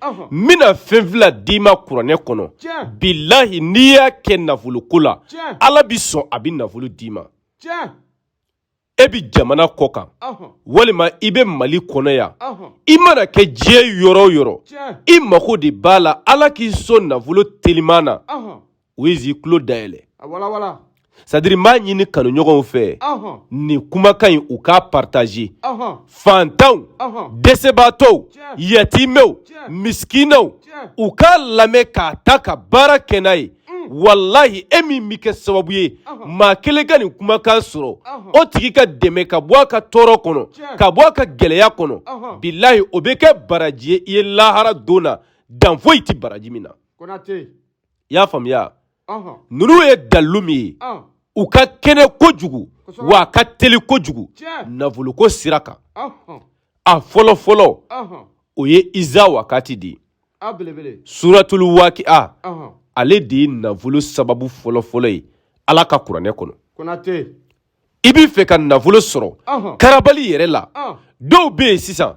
Ɔnhɔn, n bɛna fɛn fila d'i ma kuranɛ kɔnɔ Tiɲɛ. bilahi n'i y'a kɛ nafoloko la Tiɲɛ. ala bɛ sɔn a bɛ nafolo d'i ma tiɲɛ e bɛ jamana kɔ kan Ɔnhɔn, walima i bɛ mali kɔnɔ yan ɔnhɔn, i mana kɛ diɲɛ yɔrɔ o yɔrɔ tiɲɛ i mago de b'a la ala k'i sɔn nafolo teliman na Ɔnhɔn, u ye zi tulo dayɛlɛ sadiri n b'a ɲini kanuɲɔgɔnw fɛ nin kumakan in u k'a partaze fantanw dɛsɛbaatɔw yatimɛw misikinɛw u k'a lamɛn k'a ta ka baara kɛ n'a ye walahi e min bɛ kɛ sababu ye maa kelen ka nin kumakan sɔrɔ o tigi ka dɛmɛ ka bɔ a ka tɔɔrɔ kɔnɔ ka bɔ a ka gɛlɛya kɔnɔ bilahi o bɛ kɛ baraji ye i ye lahara don na dan foyi tɛ baraji min na i y'a faamuya ninnu ye dalilu min ye u ka kɛnɛ kojugu wa a ka teli kojugu nafoloko sira kan a fɔlɔ fɔlɔ o ye iza wakati de ye suratulu wakiya ale de ye nafolo sababu fɔlɔ fɔlɔ ye ala ka kuranɛ kɔnɔ i b'i fɛ ka nafolo sɔrɔ karabali yɛrɛ la dɔw bɛ yen sisan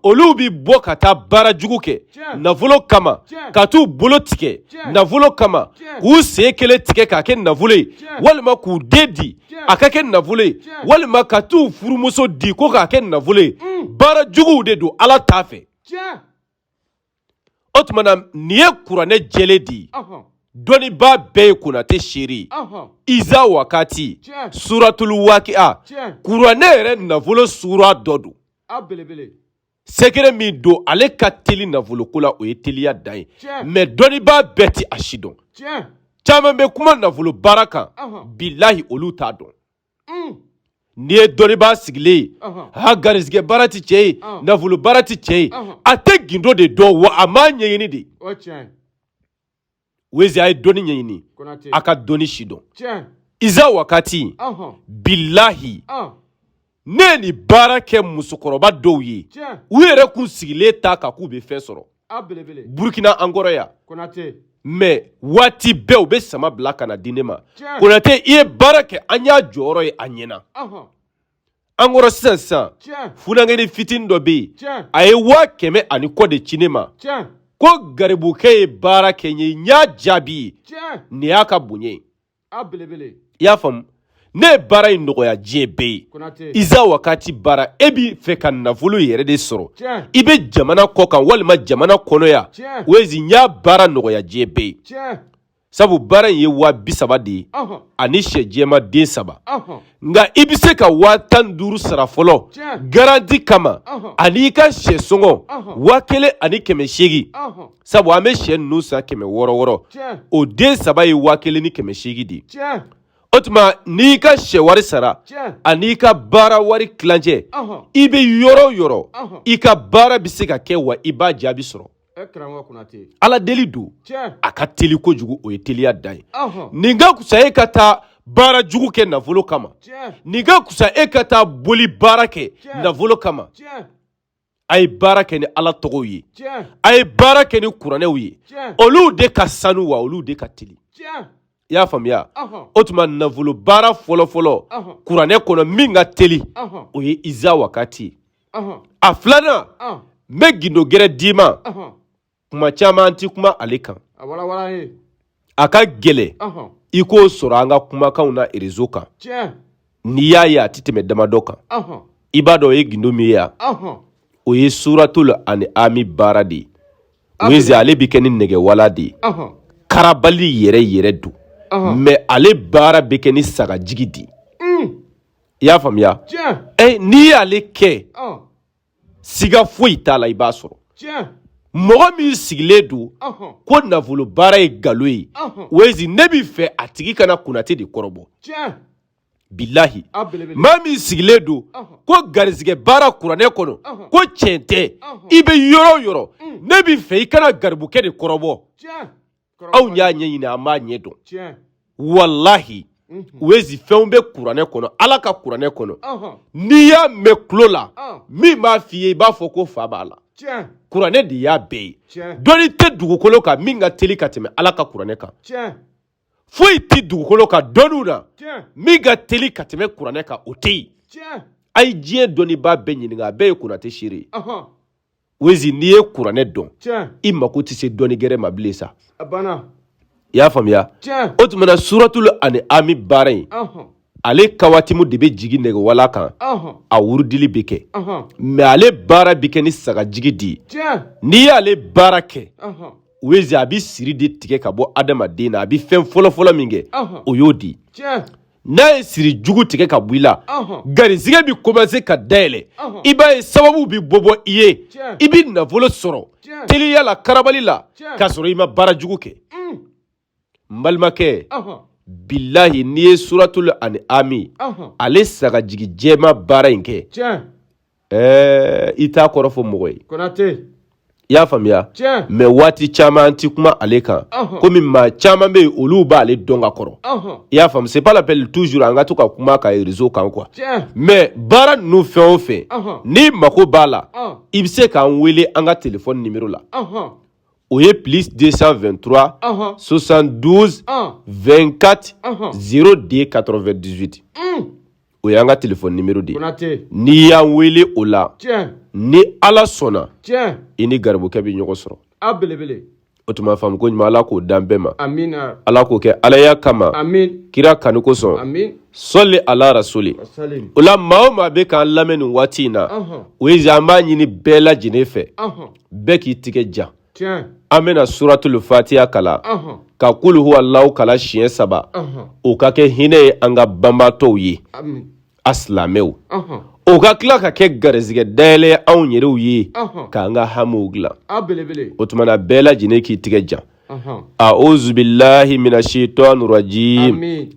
olu bɛ bɔ ka taa baara jugu kɛ nafolo kama ka t'u bolo tigɛ nafolo kama k'u sen kelen tigɛ k'a kɛ nafolo ye walima k'u den di a ka kɛ nafolo ye walima ka t'u furumuso di ko k'a kɛ nafolo ye baara juguw de don ala t'a fɛ o tuma na nin ye kuranɛ jɛlen de ye dɔnnibaa bɛɛ ye konate seere ye iza wakati suratulu wakiya kuranɛ yɛrɛ nafolo sura dɔ don sekere min don ale ka teli nafoloko la o ye teliya dan ye mɛ dɔnnibaa bɛɛ tɛ a sidɔn caman bɛ kuma nafolo baara kan bilahi olu t'a dɔn N'i ye dɔnnibaa sigilen ye ha garijɛgɛ baara tɛ cɛ ye nafolo baara tɛ cɛ ye a tɛ gundo de dɔn wa a m'a ɲɛɲini de ye ze a ye dɔnni ɲɛɲini a ka dɔnni sidɔn iza wakati bilahi ne ye nin baara kɛ musokɔrɔba dɔw ye u yɛrɛ kun sigilen t'a kan k'u bɛ fɛn sɔrɔ a belebele burkina an kɔrɔ yan konate mɛ waati bɛɛ u bɛ sama bila ka na di ne ma Tiɲɛ. konate i ye baara kɛ an y'a jɔyɔrɔ ye a ɲɛna ɔhɔn an kɔrɔ sisan sisan tiɲɛ funankɛnin fitinin dɔ bɛ yen tiɲɛ a ye waa kɛmɛ ani kɔ de ci ne ma tiɲɛ ko garibukɛ ye baara kɛ n ye n y'a jaabi ye tiɲɛ nin y'a ka bonya ye a belebele i y'a faamu ne ye baara in nɔgɔya diɲɛ bɛɛ ye konate iza wakati baara e b'i fɛ ka nafolo yɛrɛ de sɔrɔ tiɲɛ i bɛ jamana kɔ kan walima jamana kɔnɔ yan tiɲɛ wezi n y'a baara nɔgɔya diɲɛ bɛɛ ye tiɲɛ sabu baara in ye waa bi saba de ye ɔhɔn ani sɛ jɛman den saba ɔhɔn nka i bɛ se ka waa tan ni duuru sara fɔlɔ tiɲɛ garanti kama ɔhɔn ani i ka sɛ sɔngɔ Ɔhɔn. waa kelen ani kɛmɛ seegin ɔhɔn sabu an bɛ sɛ ninnu san kɛmɛ wɔɔrɔ wɔɔrɔ o den saba ye waa kelen ni kɛmɛ seegin de ye o tuma n'i ka sɛ wari sara an'i ka baara wari tilancɛ i bɛ yɔrɔ o yɔrɔ i ka baara bɛ se ka kɛ wa i b'a jaabi sɔrɔ ala deli don a ka teli kojugu o ye teliya dan ye nin ka kusa e ka taa baara jugu kɛ nafolo kama nin ka kusa e ka taa boli baara kɛ nafolo kama a ye baara kɛ ni ala tɔgɔw ye a ye baara kɛ ni kuranɛw ye olu de ka sanu wa olu de ka teli i y'a faamuya o tuma nafolo baara fɔlɔfɔlɔ kuranɛ kɔnɔ min ka teli o ye iza wakati a filanan n bɛ gindo gɛrɛ d'i ma kuma caman an tɛ kuma ale kan a ka gɛlɛn i k'o sɔrɔ an ka kumakanw na erezo kan n'i y'a ye a tɛ tɛmɛ damadɔ kan i b'a dɔn o ye gindo min ye yan o ye suratul an'ami baara de ye o ye ale bɛ kɛ ni nɛgɛwala de ye karabali yɛrɛ yɛrɛ don mɛ ale baara bɛ kɛ ni sagajigi de ye i y'a faamuya n'i y'ale kɛ siga foyi t'a la i b'a sɔrɔ mɔgɔ min sigilen don ko nafolo baara ye galon ye wezi ne b'i fɛ a tigi ka na konate de kɔrɔbɔ bilahi maa min sigilen don ko garisɛgɛ baara kuranɛ kɔnɔ ko tiɲɛ tɛ i bɛ yɔrɔ o yɔrɔ mm. ne b'i fɛ i ka na garibukɛ de kɔrɔbɔ anw y'a ɲɛɲini an b'a ɲɛ dɔn walahi mhm. wezi fɛnw bɛ kuranɛ kɔnɔ ala ka kuranɛ kɔnɔ n'i y'a mɛn tulo la min b'a f'i ye i b'a fɔ ko fa b'a la kuranɛ de y'a bɛɛ ye dɔnni tɛ dugukolo kan min ka teli ka tɛmɛ ala ka kuranɛ kan foyi tɛ dugukolo kan dɔnniw na min ka teli ka tɛmɛ kuranɛ kan o tɛ yen a ye diɲɛ dɔnnibaa bɛɛ ɲininka a bɛɛ ye konate seere ye wezi n'i ye kuranɛ dɔn i mako tɛ se dɔnni gɛrɛ ma bilen sa i y'a faamuya o tuma na suratul an'ami baara in ale kawatimu de bɛ jigin nɛgɛwala kan a wurudili bɛ kɛ mɛ ale baara bɛ kɛ ni sagajigi de ye n'i y'ale baara kɛ wezi a bɛ siri de tigɛ ka bɔ adamaden na a bɛ fɛn fɔlɔfɔlɔ min kɛ o y'o di n'a ye siri jugu tigɛ ka bɔ i la garisɛgɛ bɛ commencer ka dayɛlɛ i b'a ye sababu bɛ bɔ bɔ i ye i bɛ nafolo sɔrɔ teliya la karabali la k'a sɔrɔ i ma baara jugu kɛ mm. n balimakɛ bilahi n'i ye suratul an'am ale sagajigi jɛma baara in kɛ ɛɛ i t'a kɔrɔ fɔ mɔgɔ ye konate i y'a faamuya tiɲɛ mais waati caman an ti kuma ale kan Ɔhɔn. komi maa caman bɛ yen olu b'ale dɔn ka kɔrɔ ɔhɔn i y'a faamu c'est pas la peine toujours an ka to ka kuma ka réseau kan quoi tiɲɛ mais baara ninnu fɛn o fɛn Ɔhɔn. n'i mago b'a la ɔn i bɛ se k'an wele an ka telefɔni nimero la ɔhɔn o ye plus 223 ɔhɔn 72 ɔn 24 Ɔhɔn. 02 98 un o y'an ka telefɔni nimero de ye n'i y'an wele o la ni ala sɔnna i ni garibukɛ bɛ ɲɔgɔn sɔrɔ o tuma faamu ko ɲuman ala k'o dan bɛɛ ma ala k'o kɛ alaya kama kira kanu kosɔn sɔli ala rasuli o la maa o maa bɛ k'an lamɛn nin waati in na o ye an b'a ɲini bɛɛ lajɛlen fɛ bɛɛ k'i tigɛ jan an bɛna suratulu fatiya kala ka kulu huwalahu kala siɲɛ saba o ka kɛ hinɛ ye an ka banbaatɔw ye a silamɛw o ka tila ka kɛ garisɛgɛ dayɛlɛ anw yɛrɛw ye k'an ka hamiw dilan o tuma na bɛɛ lajɛlen k'i tigɛ jan awuzu bilahi mina sayitani rajim